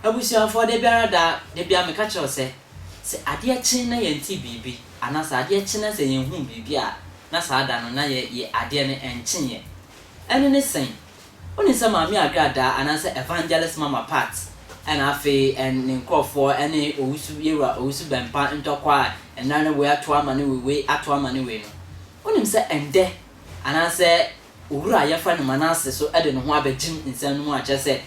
Abusuafoɔ, da biara da, da biara meka kyerɛ wo sɛ, sɛ adeɛ kye na yɛnte biribi, anaa sɛ adeɛ kye na sɛ yɛnhuu biribi a, na saa da no, na yɛ, yɛ, adeɛ no, ɛnkyeeɛ. Ɛno ne sɛn? Wonim sɛ Maame Agra Daa anaasɛ Evangelist Mama Pat na afei ne nkorɔfoɔ ne Owusu Yewura Owusu Bɛmpa ntɔkwa a nnora ne wei ato ama ne wei wei ato ama ne wei no. Wonim sɛ ɛndɛ anaasɛ Owura a yɛfrɛ no Manasse so de ne ho abɛgyem nsɛm no mu a kyerɛ sɛ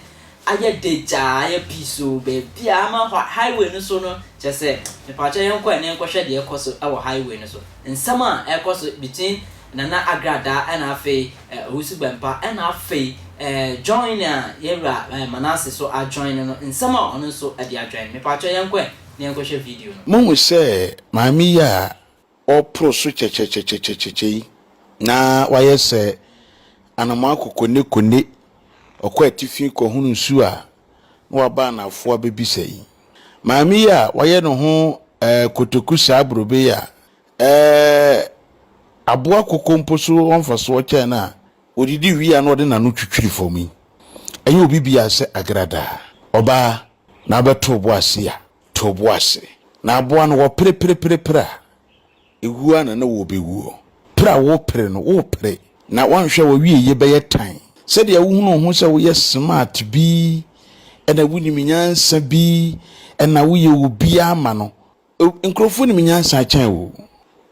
ayɛ de gyaa ayɛ piisoo baabiara ama hɔ highway no so no kyerɛ sɛ mepakyɛw yɛnkɔ ɛnɛ nkɔhwɛ deɛ ɛkɔ so wɔ highway no so nsɛm a ɛkɔ so between Nana Agra Daa na afei Eh, ɔresu bɛmpa. Ɛna afei eh, join a yɛn wura eh, Manase so ajoin no no, nsɛm a ɔno nso ɛde ajoin. Mepakyɛw yɛnkɔ ɛ na yɛnkɔhwɛ video no. Mohu sɛ maame yi a ɔreporo so kyɛkyɛkyɛkyɛkyɛkyɛ yi, na wayɛ sɛ anomaa kokonekone, ɔkɔ atifi kɔhono nsu a na waba anafoɔ abɛbisa yi. Maame yi a wayɛ ne ho eh, kotoku saa borobee a Ɛɛ, aboa koko mpo so wɔ mfasoɔ kyɛn no a ɔdidi wie a na ɔde n'ano twitwiri fam yi. Ɛnyɛ obi biara sɛ agradaa. Ɔbaa, na wobɛto wo bo ase a, to wo bo ase. Na aboa no, wɔpere pere pere pere a, ɛwuo ara na na wɔrebɛwuo. Pere a worepere no, worepere, na woanhwɛ a w'awieeɛ bɛyɛ tan. Sɛdeɛ wohunu wo ho sɛ woyɛ smart bi, ɛna wonim nyansa bi, ɛna woyɛ obi ama no, Nkurɔfoɔ nim nyansa kyɛn wo.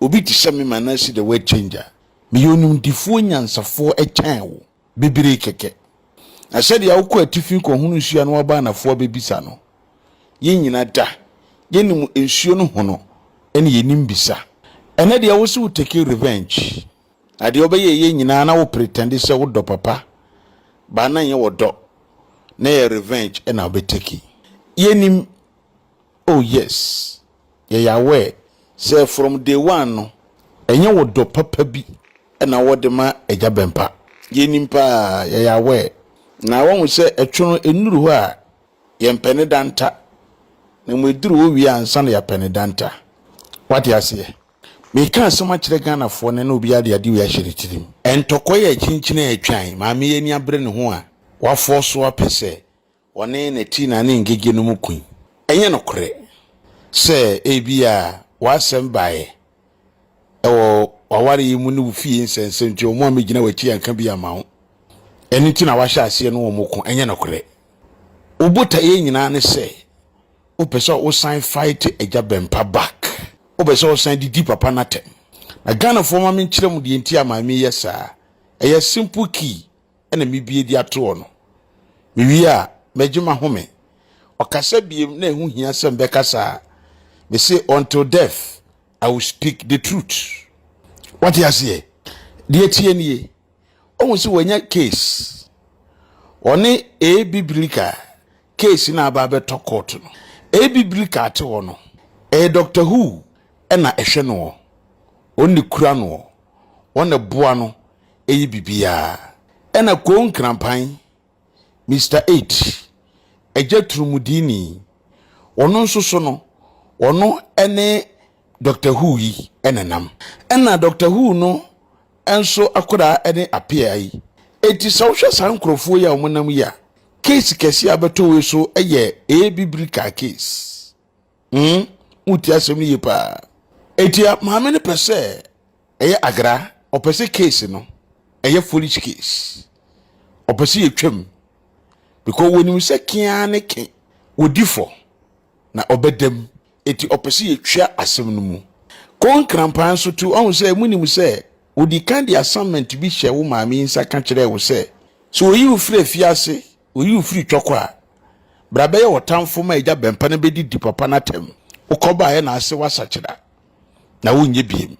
Obi te sɛ me ma no asi the word changer. Meyɛ onimdefoɔ nyansafoɔ kyɛn wo, bebree kɛkɛ. Na sɛdeɛ wokɔ atifi kɔhono nsuo a na woaba anafoɔ abɛbisa no, yɛn nyina da, yɛnim nsuo no hono ne yɛnim bisa. Ɛnnɛ deɛ wo se wo take revenge, na deɛ wobɛyɛɛyɛ nyinaa na wo pretend sɛ wo dɔ papa, but na nyɛ ɔdɔ, na ɛyɛ revenge na wobɛ take. Yɛnim. Oh yes, yɛyɛ aware sɛ from day one no, ɛnyɛ wo dɔ papa bi na wɔde ma Agya Bɛmpa. Yɛnim paa, yɛyɛ aware. Na woahu sɛ ɛtwe no ɛnnuru hɔ a, yɛmpɛ ne da nta, na mmom ɛduru hɔ wie a ansa na yɛapɛ ne da nta. Woate aseɛ? Mereka asɛm akyerɛ Ghanafoɔ nnɛ na obiara de adeɛ wei ahyɛ ne tirim. Ntɔkwa yi a ɛkyinkyin a ɛretwan, maame yi ani abere ne ho a, wafɔɔso apɛ sɛ Ɔne ne ti na ne ngege no mu kui. Ɛnyɛ nokorɛ sɛ ebia w'asɛm baeɛ wɔ w'aware yi mu ne wo fie nsɛnsɛm nti, wɔn a megyina w'akyi anka bi amma wo. Ɛno nti na woahyɛ aseɛ ne wɔn ko. Ɛnyɛ nokorɛ. Wo botaeɛ nyinaa ne sɛ wopɛ sɛ wosan fight Agya Bɛmpa back. Wopɛ sɛ wosan de di papa no atɛm. Na Ghanafoɔ ma menkyerɛ mo deɛ nti a Maame yɛ saa. Ɛyɛ simple key na mebue de ato hɔ no. Mewie a, magye m'ahome. Ɔkasa biem na ɛho hia sɛ mebɛka saa. Mese, Until death, I will speak the truth. Wate aseɛ? Deɛ ɛteɛ nie. Ɔhu sɛ wanya case. Ɔne A. Biblica case no a aba abɛtɔ court no. A. Biblica ate hɔ no, ɛyɛ Doctor Who na ɛhwɛ noɔ. Wɔn na ɛkura noɔ. Wɔn na ɛboa no. ɛyɛ biribiara. Ɛna Koo Nkranpan, Mister Eight, Agya Turumudiini, ɔno nso so no, ɔno ne Doctor Who yi nenam. Ɛna Doctor Who no nso akwadaa ne Apea yi. Enti sɛ wohwɛ saa nkorɔfoɔ yi a wɔnam yi a, case kɛseɛ a abɛtɔ wei so yɛ Abibirika case. mm woretie asɛm no yie paa etia maame no pɛ sɛ ɛyɛ agra ɔpɛ sɛ case no ɛyɛ foolish case ɔpɛ sɛ yɛtwam because wɔnim sɛ kea ne ke wɔdi fɔ na ɔbɛdam eti ɔpɛ sɛ yɛtwa asɛm no mu kɔ nkrampan so to ɔhu sɛ munim sɛ ɔdi kan de assignment bi hyɛ wo maame yi nsa ka kyerɛɛ wo sɛ sɛ ɔyi wo firi afiase Oyi wo firi twɔkɔ a. Bra bɛyɛ ɔtamfo ma agya bɛmpa na bɛdidi papa no atɛm. Wokɔbaeɛ na ase woasakyera na wonyɛ biem.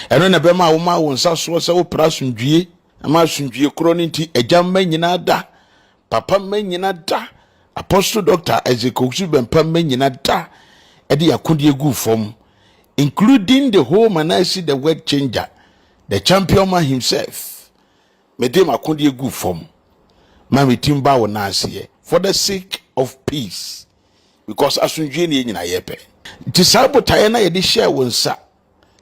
Ɛno na ɛbɛma a womaa wo nsa soɔ sɛ wopere asomdwie ma asomdwie korɔ no nti agya mma nyina da, papa mma nyina da, Apostle Doctor Isaac Owusu Bɛmpa mma nyina da de akodeɛ guu fam including the whole Manasseh the word changer, the champion man himself. Mede m'akodeɛ gu fam ma me ti mba wo nan aseɛ for the sake of peace because asomdwie ne yɛn nyinaa yɛ pɛ. Nti saa botaeɛ no a yɛde hyɛɛ wo nsa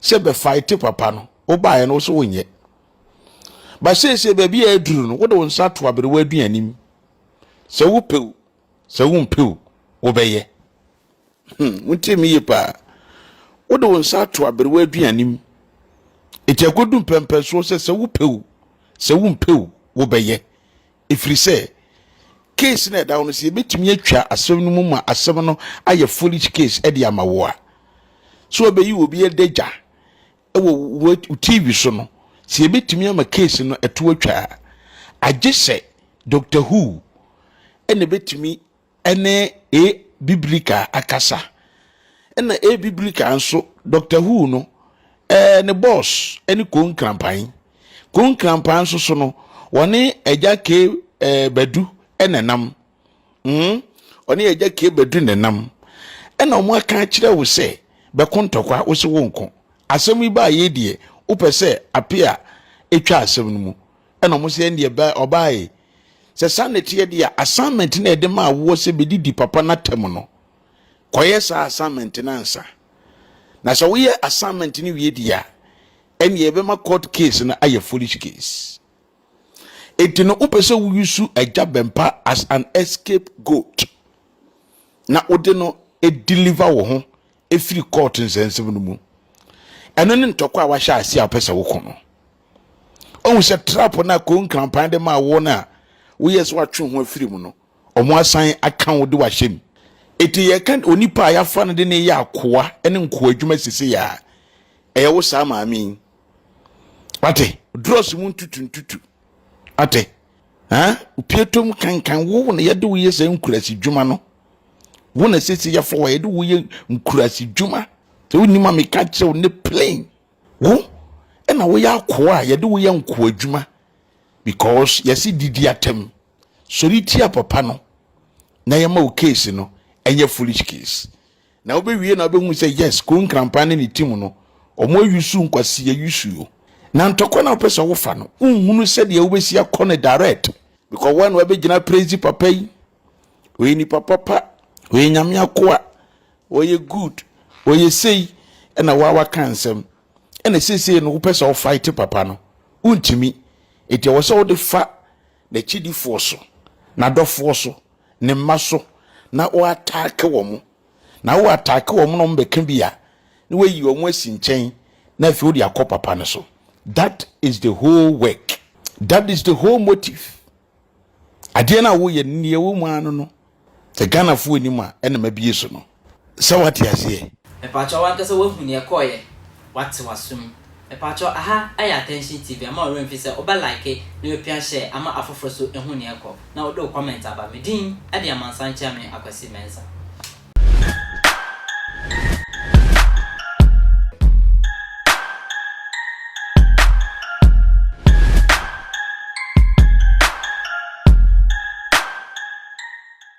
sɛ bɛfaete papa no wobaeɛ no wo so wonyɛ. Ba seesei baabi a aduru no wode wo nsa to aberewa aduanim sɛ wopɛ Sɛ wompɛ o, wobɛyɛ. Hmm, wontie me yie paa. Wode wo nsa ato aberewa aduane mu. Enti agodu mpɛmpɛnsoɔ sɛ sɛ wopɛ o, sɛ wompɛ o, wobɛyɛ. Ɛfiri sɛ, case no ɛda wo no sɛ yɛbɛtumi atwa asɛm no mu ma asɛm no ayɛ foolish case de ama wo a. So ɔbɛyi obi adagya wɔ wo TV so no, sɛ yɛbɛtumi ama case no ɛto atwa a, agye sɛ Doctor Who ɛna ɛbɛtumi ɛne A Biblica akasa. Ɛna A Biblica nso, Doctor Who no, ɛɛ ne boss ɛne Ko Nkrampan. Ko Nkrampan nso so no, wɔne Agya K ɛɛ Badu ɛna ɛnam. mm, ɔne agya kie bɛdu ne nam ɛna ɔmo aka akyerɛ wo sɛ bɛko ntɔkwa wo se wo nko asɛm yi baa yei deɛ wopɛ sɛ ape a ɛtwa asɛm no mu ɛna ɔmo sɛ ɛndeɛ bɛ ɔbaae sɛ saa na ɛteɛ deɛ assignment na ɛde maa woɔ sɛ bɛdidi papa no atam no kɔyɛ saa assignment no ansa na sɛ woyɛ assignment no wie deɛ a ɛndeɛ ɛbɛma court case no ayɛ foolish case Enti no wopɛ sɛ woyusu agya bɛmpa as an escape goat na wode no deliver wo ho ɛfiri court nsɛnsɛm no mu. Ɛno ne ntɔkwa a wahyɛ ase a wopɛ sɛ woko no. Ɔhu sɛ trap no a konkrampan de maa wo no a woyɛ sɛ watwe ho afiri mu no, ɔmo asan aka wo de wahyɛ mu. Eti yɛka onipa a yɛafa no de ne yɛ akoa ne nkoa adwuma sisi yɛ a, ɛyɛ wo saa maame yi wate drɔs mu ntutu ntutu wate ɛn opie tom kankan wo na yɛde wo yɛ sɛ nkurasi dwuma no wo na sisi yɛfɔ wɔ yɛde wo yɛ nkurasi dwuma sɛ wonim a meka kyerɛ wo ne plain wo ɛna woyɛ akoa a yɛde wo yɛ nkoa adwuma because yɛsi didi atam sɔre tia papa no na yɛma wo case no ɛnyɛ foolish case Na wobewie na wobehu sɛ yes Koo Nkrampa ne ne team no wɔn ayusu nkwasiyɛ yusu o. Na ntɔkwa no a wopɛ sɛ wofa no wonhunu sɛdeɛ wobɛsi akɔ no direct. Because woa na wabɛgyina praise papa yi, ɔyɛ nipa papa, ɔyɛ Nyame akoa, ɔyɛ good, ɔyɛ sei ɛna woa waka nsɛm. Ɛna seisei no wopɛ sɛ wo fight papa no wontumi. Nti ɛwɔ sɛ wode fa n'akyidifoɔ so, n'adɔfoɔ so, ne mma so na wo ataake wɔn na wo ataake wɔn na wɔn bɛka bi a na wayi wɔn asi nkyɛn na afei wode akɔ papa no so that is the whole work that is the whole motive adeɛ no a woyɛ no neɛ wo mu ano no sɛ ghanafoɔ anim a ɛna mabie so no sɛ wate aseɛ. Mepakyɛw wankasa wahu nea ɛkɔɔeɛ wate w'asom mepakyɛw aha ayɛ attention TV ama wo werɛ mfi sɛ wobɛ like na wapia share ama afoforo so ahu nea ɛkɔ na wode wo comment aba me din de Amansan Kyeame Akwasi Mensah.